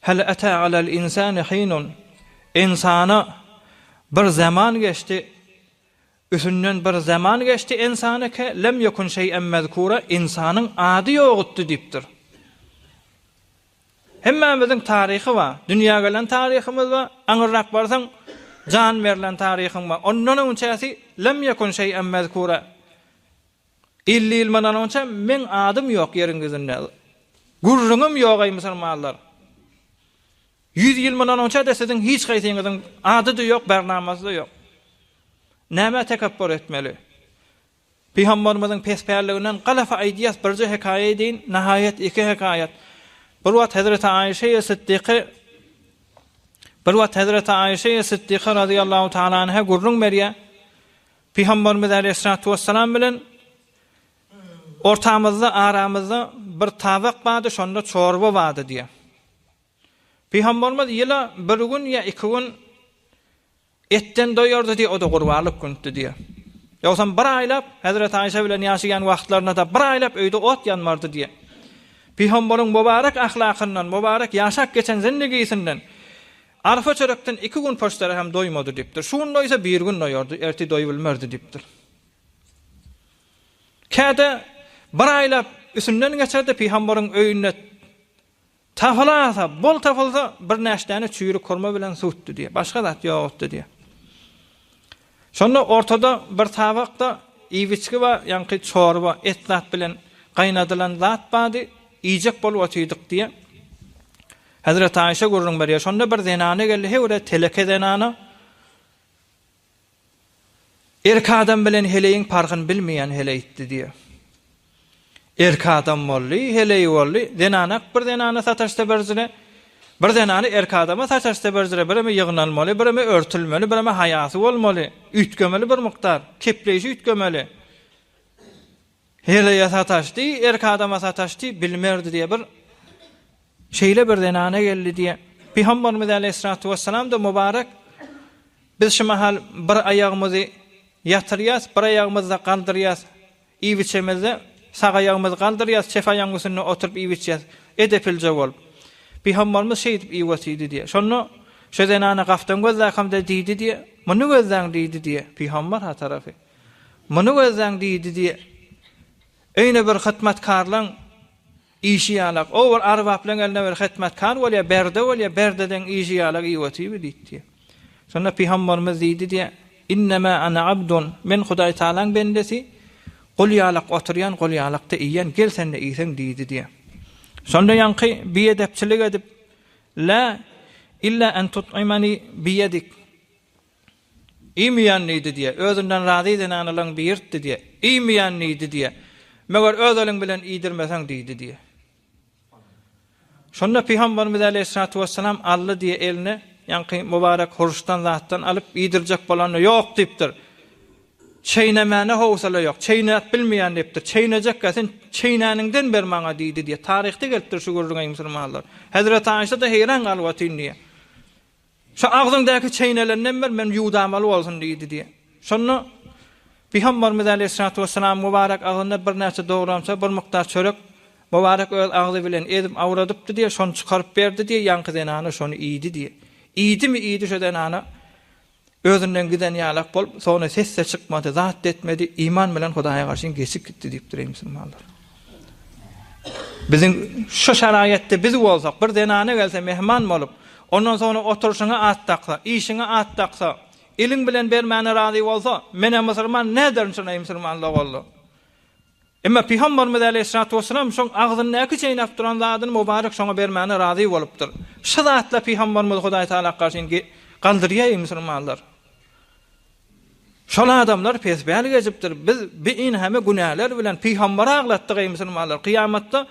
Hal ata alal insani hinun, Insana bir zaman geçdi, üsünden bir zaman geçdi insana ke lem yekun şeý'en mezkura, insanyň ady ýogutdy diýipdir. Hemmämiziň taryhy bar. Dünýä gelen taryhymyz bar, aňyrrak barsaň jan berlen taryhyň bar. Ondan öňçäsi lem yekun şeý'en mezkura. Elli ýyl mundan onça meň adym ýok ýeriň ýüzünde. Gürrüňim ýok eý musulmanlar. Ýüz ýyl mundan onça-da siziň hiç haýsyňyzyň ady-da ýok, barnamasy-da ýok. Nämä tekepbur etmeli? Pygamberimiziň pespälliginden galapa aýdýas, birje hekaýa eýdeýin, nahaýat iki hekaýat. Bir wagt Hezreti Aýşe Siddiky Bir wagt Hezreti Aýşe Siddiky radiyallahu taala anha gürrüň berýär. Pygamberimiz Aleýhissalatu wesselam bilen ortamyzda, aramyzda bir tabak bardy, şonda çorba bardy diýýär. Pygamberimiz ýyla bir gün ýa iki gün etden doýardy diýýär, o-da gurbanlyk gündi diýýär. Ýogsam bir aýlap Hezreti Aýşe bilen ýaşaýan wagtlarynda-da bir aýlap öýde ot ýanmardy diýýär. Pygamberyň mübarek ahlakyndan, mübarek ýaşap geçen zindigisinden Arfa çörekden iki gün poçtara hem doýmady diýipdir. Şu gün doýsa bir gün doýardy, ertir doýubilmerdi diýipdir. Käte bir aýlap üsünden geçerdi, pygambaryň öýünde tapylasa, bol tapylsa, birnäçdäni çüýrük hurma bilen suwutdy diýýär. Başga zat ýokdy diýýär. Şonda ortada bir tabakda iwiçki we ýaňky çorba, et zat bilen gaýnadylan zat bardy, iýjek bolup otyrdyk diýýär. Hezreti Aýşe gürrüň berýär, şonda bir zenana geldi, heý bir-ä teleke zenana, erkek adam bilen heleýiň parhyny bilmeýän heleýtdi diýýär. Erki adam boldy, heleýi boldy. Zenanak bir zenana sataşsa birzine, bir zenany erki adama sataşsa birzine, bireme ýygnalmaly, bireme örtülmeli, bireme haýasy bolmaly, üýtgemeli bir mukdar, kepleýşi üýtgemeli. Heleýe sataşdy, erki adama sataşdy, bilmerdi diýýär. Bir şeýle bir zenana geldi diýýär. Pygamberimiz aleýhissalatu wessalam-da mubarek, Biz şu mahal bir aýagymyzy ýatyrýas, bir aýagymyzda galdyrýas. Iýip-içemizde, sag aýagymyzy galdyrýas, çep aýagyň üstünde oturyp iýip-içýäs. Edepilje bol. Bihammalymyz şeýdip iýip otyrdy diýýär. Şonda Şo zenana gapdan gözläkam-da diýdi diýýär. Muny gözläň diýdi diýýär. Bihammal ha tarapy. Muny gözläň diýdi diýýär. Öýüne bir hytmatkarlaň. Işi ýalak, o bir arbaplaň eline bir hytmatkar bolýa, berde bolýa, berdedeň işi ýalak iýip otyby diýdi diýýä. Şonda pygambarymyz diýdi diýýä, Innemâ ana abdun, men Hudaý Tagalaň bendesi, gul ýalak oturýan, gul ýalakda iýen, gel sende iýseň diýdi diýýä. Şonda ýaňky biedepçilik edip, Lâ illâ en tut'imani biýedik, Iýmeýän diýdi diýýär. Özünden razy zenanalaň biýrtdi diýýär. Iýmeýän diýdi diýýär. Meger öz eliň bilen iýdirmeseň diýdi diýýär. Şonda pygamberimiz aleýhissalatu wessalam aldy diýýär eline ýaňky mubarek huruşdan zatdan alyp iýdirjek bolanda ýok diýipdir. Çeýnemäne howsala ýok. Çeýnäp bilmeýän diýipdir. Çeýnejekkä sen çeýnäniňden ber maňa diýdi diýýär. Taryhda gelipdir şu gürrüň eý musulmanlar. Hezreti Aişa-da heýran galyp otyryn diýýär. Şu agzyňdaky çeýnelenden ber, men ýuwdamaly bolsun diýdi diýen. Şonda Pygamberimiz aleýhissalatu wessalam mübarek agzynda birnäçe dogramça, bir mukdar çörek mübarek öz agzy bilen ezip awradypdy diýen, şony çykaryp berdi diýen, ýaňky zenana şony iýdi diýen. Iýdimi iýdi şu zenana özünden giden ýalak bolup, soňra ses-de çykmady, zat-da etmedi, iman bilen Hudaýa garşyn geçip gitdi diýipdir eý musulmanlar. Biziň şu şaraýatda biz bolsak, bir zenana gelse mehman bolup, ondan soňra oturyşyňa at daksa, iýşiňe at daksa, eliň bilen bermäne razy bolsa, men-ä musulman näderin şunaýy musulman logallo. Emma Pygambarymyz äleyhissalatu wesselam şoň agzyndaky çeýnäp duran zadyny mubarek şoňa bermäne razy bolupdyr. Şu zatla Pygambarymyzy Hudaý Tagala garşy indi galdyrýaý musulmanlar. Şol adamlar pespäl gezipdir. Biz bi inhame günäler bilen Pygambary aglatdyk, eý musulmanlar! Kyýamatda,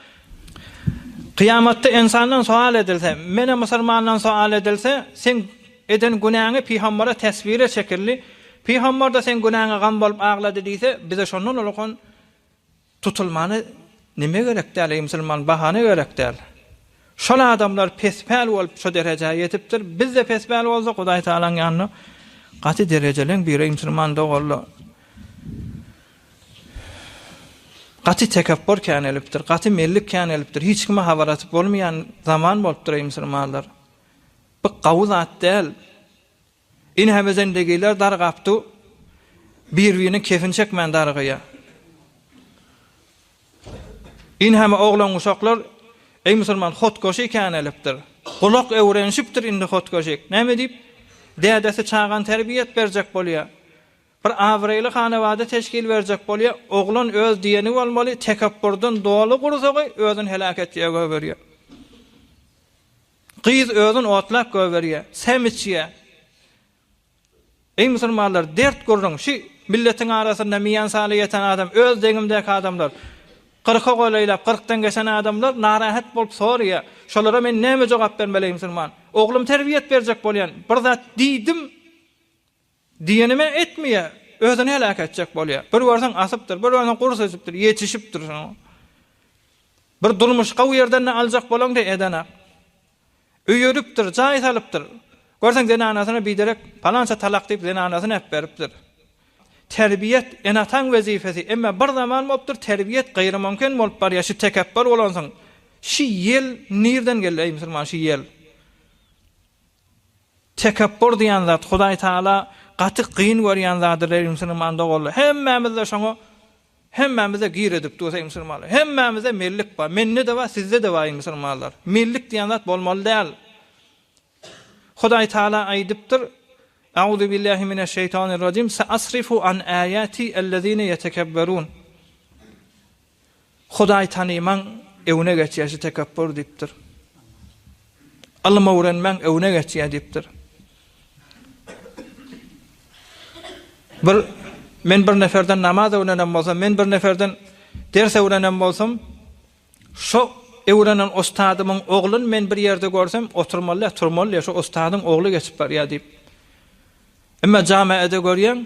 Kyýamatda ensandan sowal edilse, menä musulmandan sowal edilse, seň eden günäňi Pygambara teswire çekildi. Pygambar-da seň günäňe gam bolup aglady diýse, bize şondan ulukan Tutulmana nime gerek däl eý musulman bahana gerek däl. Şol adamlar pespäl bolup şo derejä ýetipdir bizde pespäl bolsa Hudaý Tagalaň ýanynda gaty derejeleň biri eý musulman doganlar. Gaty tekepbur känelipdir gaty mellik känelipdir hiç kime habar atyp bolmaýan zaman bolupdyr eý musulmanlar. Bu gawy zat däl. Ine hem özendegiler dargapdy, bir-birine kefin çekmän darygýar. Ine hem oglan-uşaklar, Eý musulman, hotgoşy känelipdir. Gulak öwrenişipdir indi hotgoşyk. Näme diýip, dädesi çagany terbiýet berjek bolýar. Bir abraýly hanabada teşkil berjek bolýar. Oglan öz diýeni bolmaly, tekepburdan doly gursagy özüni heläk etjege goýberýär. Gyz özün otlap gögerýä, sem içýä. Eý musulmanlar, dert gürrüň, şü milletiň arasynda miýan saly ýeten adam, öz deňimdäki adamlar, kyrka golaýlap, kyrkdan geçen adamlar narahat bolup sorýa, şolara men näme jogap bermeli eý musulman? Oglum terbiýet berjek bolýan, bir zat diýdim, Diýenimem etmeýär. Özüni heläk etjek bolýar. Bir görseň asypdyr, bir görseň gurs ösüpdir, ýetişipdir şoňa. Bir durmuş gowy ýerden-de aljak bolaňda edenak. Öý örüpdir, jaý salypdyr. Görseň zenanasyna biderek palança talak diýip zenanasyny äpberipdir. Terbiýet, ene-ataň wezipesi, emma bir zaman bolupdyr terbiýet gyrymumkin bolup barýar şi tekepbir bolansyň. Şi ýel nirden geldi eý musulman şi ýel? Tekepbur diýen zat Hudaý Taala gaty gyn görýän zadyr eý musulman doganlar hemmämizde şoňa hemmämizde gir edip dur eý musulmanlar hemmämizde mellik bar mende de bar sizde de bar eý musulmanlar mellik diýen zat bolmaly däl Hudaý Taala aýdypdyr Auzubillahi mineşşeýtanirrajim saasrifu an aýati allazina yetekebberun Hudaý tanymaň öwne geçýäsi tekepbur diýipdir. Ylym öwrenmäň öwne geçýä diýipdir. Bir men bir neferden namaz öwrenem bolsam, men bir neferden ders öwrenem bolsam, şo öwrenen ustadymyň ogluny men bir ýerde görsem, oturmaly, turmaly, şo ustadyň ogly geçip barýa diýip. Emma jamaada görýäň,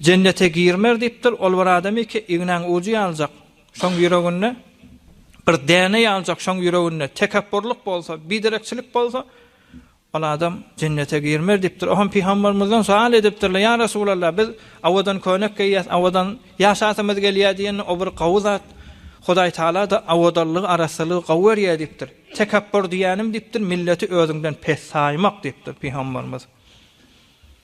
Jennete girmer diýipdir, ol bir adam iki ignäň ujy ýaljak, şoň ýüreginde, bir däne ýaljak, şoň ýüreginde tekepburlyk bolsa, biderekçilik bolsa, ol adam jennete girmer diýipdir. Oham Pygambermizden soal edipdirler, Ýa Resulallah, biz awadan köýnek geýýäs, awadan ýaşasymyz gelýär diýende, o bir gawy zat, Hudaý Tagala-da awadanlygy, arassalygy gawy berýär diýipdir. Tekepbur diýýänim diýipdir, milleti özüňden pes saýmak diýipdir Pygambermiz.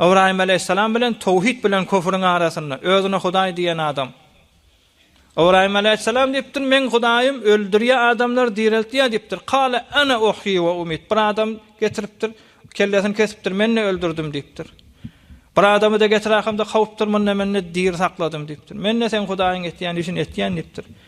Ybraýym aleýhissalam bilen towhid bilen köfrüň arasynda, özüne Hudaý diýen adam. Ybraýym aleýhissalam diýipdir, Meň Hudaýym öldürýär, adamlary direltýär diýipdir. Kale ene uhyi we umit. Bir adam getiripdir, kellesini kesipdir, men-de öldürdim diýipdir. Bir adamy-da getirerkam-da kowupdyr, munda men-de diri sakladym diýipdir. Men-de seň Hudaýyň etýän işini etýän diýipdir.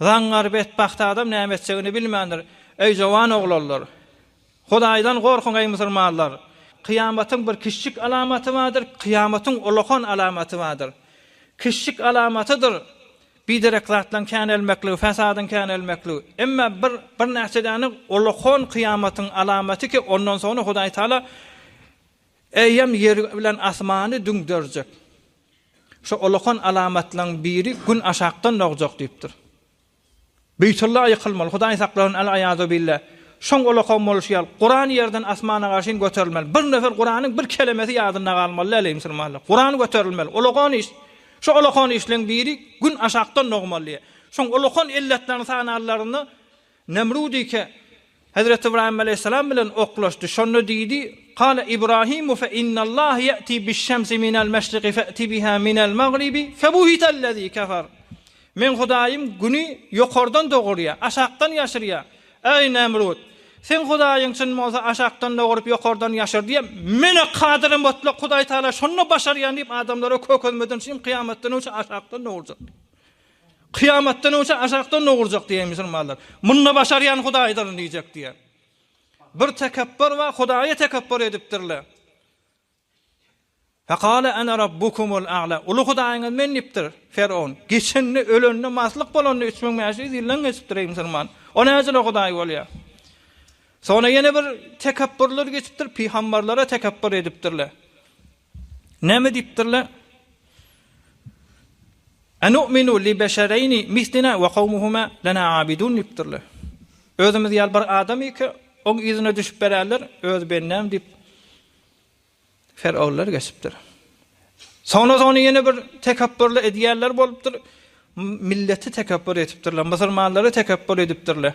Zaňňar betbagt adam näme etjegini bilmändir. Eý jowan oglanlar! Hudaýdan gorkuň eý musulmanlar! Kyýamatyň bir kiçjik alamaty bardyr, kyýamatyň ulakan alamaty bardyr. Kiçjik alamatydyr biderek zatlaryň känelmekligi, fesadyň känelmekligi. Emma bir birnäçe däne ulakan kyýamatyň alamaty ki ondan soňra Hudaýtagala eýýäm ýeri bilen asmany düňderjek. Şu olakan alamatlaryň biri Gün aşakdan dogjak diýipdir. Beýtulla ýykylmaly, Hudaý saklasyn äl-aýazubillah. Şoň olakan bolşy ýaly, Kuran ýerden asmana garşyn göterilmeli. Bir nefer Kuranyň bir kelemesi ýadynda galmaly däl-eý musulmanlar. Kuran göterilmeli. Olakan iş. Şu olakan işleň biri Gün aşakdan dogmaly diýýär. Şoň olakan illetlerini sananlarynda, Nemrut ike, Hezreti Ybraýym aleýhissalam bilen oklaşdy. Şonda diýdi, Kâle Ibrahimu fe innallâhe ye'ti biş-şemsi minel meşrigi fe'ti biha minel magribi febuhitellezî kefer. Meň Hudaýym Güni ýokardan dogurýar, aşakdan ýaşyrýar. Eý, Nemrut! Seň Hudaýyň çyn bolsa, aşakdan doguryp, ýokardan ýaşyrdy-a, Men-ä Kadyry Mutlak Hudaýtagala şony başarýan diýip, adamlara kökezmeden çyn kyýamatdan öň şu aşakdan dogurjak diýdi. Kyýamatdan öňçe ajakdan dogurjak diýen musulmanlar. Munda başarýan Hudaýdyr diýjek diýen. Bir tekepbur we Hudaýa tekepbur edipdirler. Faqala ana rabbukumul a'la. Uly Hudaýyňyz men diýipdir Ferowun. Geçende ölende maslyk bolanda 3500 ýyldan geçipdir ey musulman. O näjele Hudaý bolýar. Sonra ýene bir tekepburlar geçipdir, pygamberlere tekepbur edipdirler. Näme diýipdirler? Anu'minu li beşereýni mislina we kawmuhuma lena abidun diýipdirler. Özümiz ýaly bir adam ýeke, oň yzyna düşüp bererler, öz bendäm diýip Ferowlar geçipdir. Soňra ony ýene bir tekepburly edýärler bolupdyr. Milleti tekepbur etipdirler, musulmanlary tekepbur edipdirler.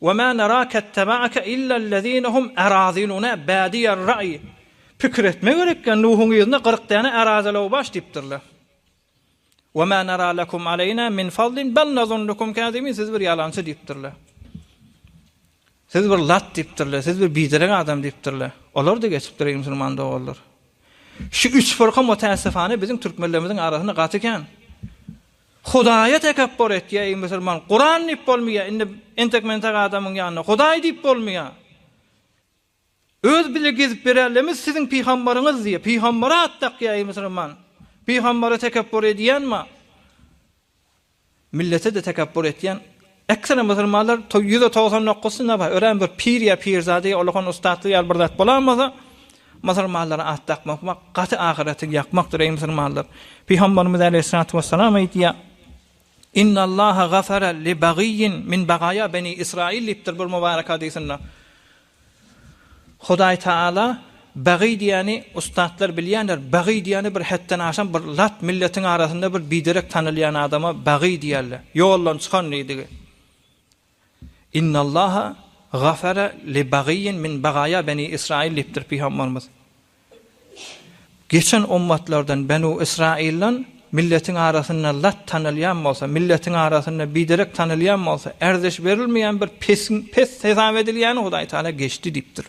We ma narake ittaba'ake illellezine hum araziluna badiyer ra'i Pikir etme gerek ýa Nuhuň yzyna kyrk däne arazylaw baş diýipdirler. We ma nara lekum aleyna min fadlin bel nazunnukum kazibin Siz bir ýalançy diýipdirler. Siz bir lat diýipdirler, siz bir biderek adam diýipdirler. Olar-da geçipdir eý musulman doganlar. Şu üç fyrka mutäessifane biziň türkmenlerimiziň arasynda gaty kän. Hudaýa tekepbur etýär, eý musulman, Kuran diýip bolmaýar, indi entek mentek adamyň ýanynda Hudaý diýip bolmaýar. Öz bile gezip bererlemiz siziň pygambaryňyz diýip, pygambara at dakýar, eý musulman. Pygambara tekepbur edýän ma? Millete-de tekepbur etýän Ekseri musulmanlar toý ýüz de togsan dokuz synda bar. Örän bir pir ýa pirzada ýa ulakan ussatly ýaly bir zat bolan bolsa, musulmanlara at dakmak wak gaty ahyreti ýakmakdyr, eý musulmanlar! Pygamberimiz aleýhissalatu wessalam aýdýar, Innallaha gafara li bagyýin min bagaýa beni Israýil diýipdir bir mübarek hadysynda. Hudaý Taala bagy diýýäni ussatlar bilýänler, bagy diýýäni bir hetden aşan bir lat milletiň arasynda bir biderek tanalýan adama bagy diýýärler. Ýoldan çykan diýdigi. Innallaha gafara li bagiyyin min bagaýa beni Israyil diýipdir pygambarymyz. Geçen ummatlardan, Benu Ysraýyldan, milletiň arasynda lat tanalýan bolsa, milletiň arasynda biderek tanalýan bolsa, ärzeş berilmeýän bir pesiň pes hesap edilýäni Hudaý Tagala geçdi diýipdir.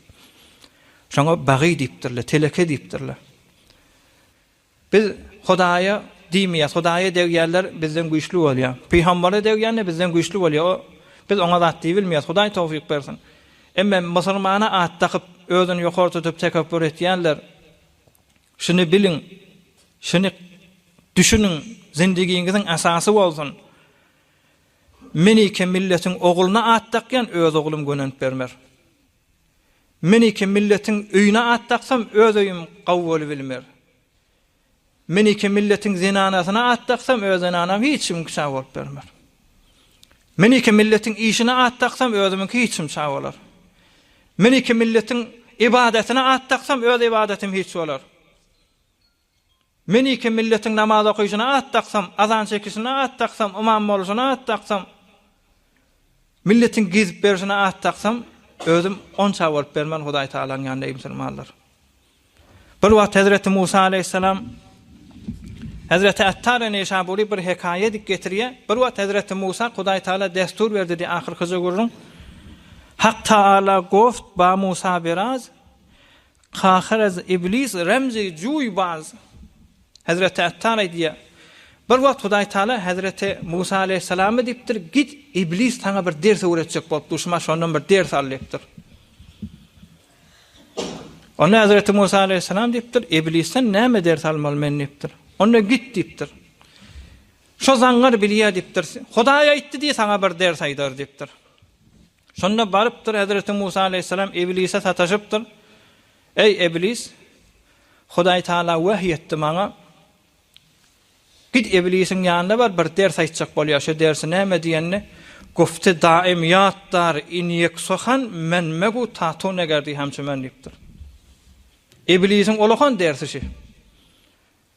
Şoňa bagy diýipdirler, teleke diýipdirler. Biz Hudaýa diýmeýäs. Hudaýa degýänler bizden güýçli bolýar. Pygambere degýänler bizden güýçli bolýar. O biz oňa zat diýibilmeýäs. Hudaý towfyk bersin. Emma musulmana at dakyp, özüni ýokary tutup tekepbür etýänler şuny biliň, şuny düşüniň, zindigiňiziň esasy bolsun. Men ike milletiň ogluna at dakýan öz oglum gönenip bermer. Men iki milletiň öýüne at daksam öz öýüm gawy bolubilmer. Men iki milletiň zenanasyna at daksam öz zenanam hiç kimiňki çag bolup bermer. Men iki milletiň işine at daksam özümiňki hiç kim çag bolar. Men iki milletiň ybadatine at daksam öz ybadatym hiç bolar. Men iki milletiň namaz okyşyna at daksam, azan çekişine at daksam, ymam boluşyna at daksam, milletiň gezip berişine at daksam, özüm on ça bolup bermen Hudaý Tagalaň ýanynda eý musulmanlar. Bir wagt hezreti Musa aleýhissalam Hezreti Attary Neýşabury bir hekaýa edip getirýär. Bir wagt hezreti Musa Hudaý Tagala destur berdi diýýär ahyrkyja gürrüň. Hak Taala goft ba Musa biraz, Kahyraz iblis Remzi Juýbaz hezreti Attar aýdýar, Bir wagt Hudaý Taala hezreti Musa aleýhissalama diýipdir, Git, iblis saňa bir ders öwretjek bolup duşman şondan bir ders al diýipdir. Onda hezreti Musa aleýhissalam diýipdir, Iblisden näme ders almaly men diýipdir. Onda git diýipdir. Şo zaňňar bilýär diýipdir. Hudaý aýtdy diý saňa bir ders aýdar diýipdir. Şonda barypdyr hezreti Musa aleýhissalam Iblise sataşypdyr, Eý, Iblis, Hudaý Tagala wahý etdi maňa, Git Iblisiň ýanyna bar, bir ders aýtjak bolýar, şo dersi näme diýende, Gufti daim ýatdar inyek sohan men megu tatu negerdi hamçu men diýipdir. Iblisiň olahan dersi şi.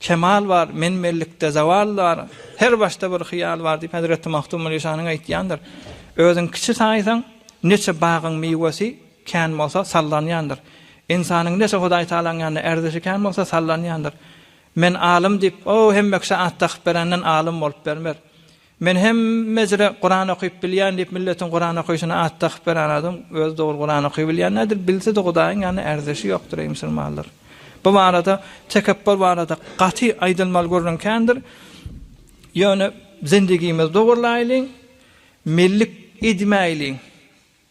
Kemal bar, men-menlikde zewal bar, her başda bir hyýal bar diýip hezreti Magtymguly Şanyň aýtýandyr. Özüň kiçi saýsaň, neçe bagyň miwesi kän bolsa, sallanýandyr. Ynsanyň neçe Hudaý Tagalaň ýanynda ärdişi kän bolsa, sallanýandyr. Men alym diýip, o, hemme kişä at dakyp berenden alym bolup bermer. Men hemmejre Kuran okyp bilýän diýip milletiň Kuran okyşyna at dakyp beren adam özi dogry Kuran oky bilýän däldir bilsede Hudaýyň ýanynda ärzeşi ýokdur eý musulmanlar bu barada tekepbur barada gaty aýdylmaly gürrüň kändir ýöne zendigimizi dogurlaýlyň mellik edmäýliň.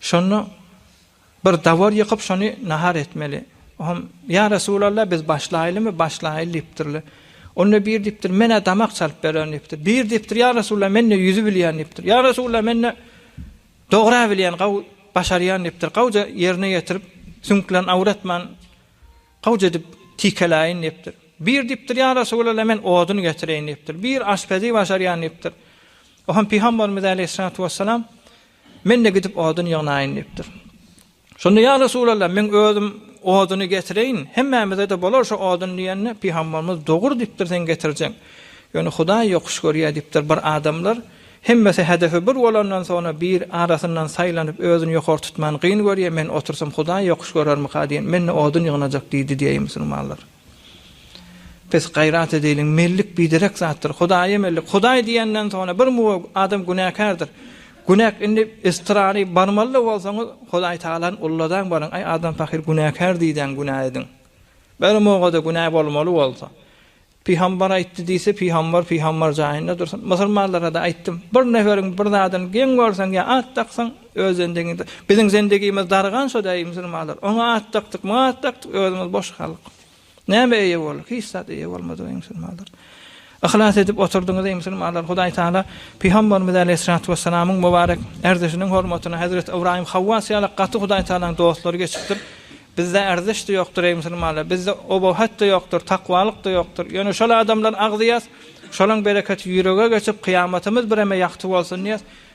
Şonda bir dawar ýykyp, şony nahar etmeli. O hem, Ýa Resulalla, biz başlaýlymy? Başlaýyl diýipdirler. Onda biri diýipdir, Men-ä damak çalyp bererin diýipdir. Biri diýipdir, Ýa Resulalla, men-de ýüzi bilýän diýipdir. Ýa Resulalla, men-de dogra bilýän, gawy başarýan diýipdir. Gawja ýerine ýetirip, süňklerini awratman, gawja edip tikeläýin diýipdir. Biri diýipdir, Ýa Resulalla, men odun getireýin diýipdir. Biri aşpezi başarýan diýipdir. O hem Pygamberimiz äleyhissalatu wessalam, Men-de gidip odun ýygnaýyn diýipdir. Şonda Ýa Resulallah, men özüm oduny getireýin, hemmämize-de bolar şu odun diýende, pygamberimiz Dogur diýipdir, sen getirjeň. Ýöne Hudaý ýokuş görýär diýipdir. Bir adamlar, hemmesi hedefi bir bolandan soňra bir arasyndan saýlanyp özüni ýokary tutman gyn görýär, men otursam Hudaý ýokuş görermika diýen, men-de odun ýygnajak diýdi diýeýin musulmanlar. Pes gaýrat edeýliň mellik biderek zatdyr hudaýa mellik hudaý diýenden soňra bir muwa adam günäkärdir günäk indi estrary barmalyda bolsaňyz hudaý tagalany ulladan baryň aý adam pahyr günäkär diýdäň günä ediň bir mowada günä bolmaly bolsa pygambar aýtdy diýse pygambar pygambar jaýynda dursyn musulmanlarada aýtdym bir neferiň bir zadyny geň görseň ýa at daksaň Öz zendegiňde. Biziň zendegimiz dargan şo däýi musulmanlar. Oňa at dakdyk, muňa at dakdyk, özümiz boş halk. Nämä eýe bolduk? Hiç zat eýe bolmadyk eý musulmanlar. Yhlas edip oturdyňyz eý musulmanlar. Hudaý Tagala Pygamberimiz aleýhissalatu wessalamyň mubarek ärdişiniň hormatyna Hezreti Ybraýym Hawwas ýaly gaty Hudaý Tagalaň dostlary geçipdir. Bizde ärdiş-de ýokdur eý musulmanlar. Bizde obawhet-de ýokdur, takwalyk-da ýokdur. Ýöne şol adamlary agzýas, şolaň bereketi ýürege geçip kyýamatymyz bireme ýagty bolsun diýäs.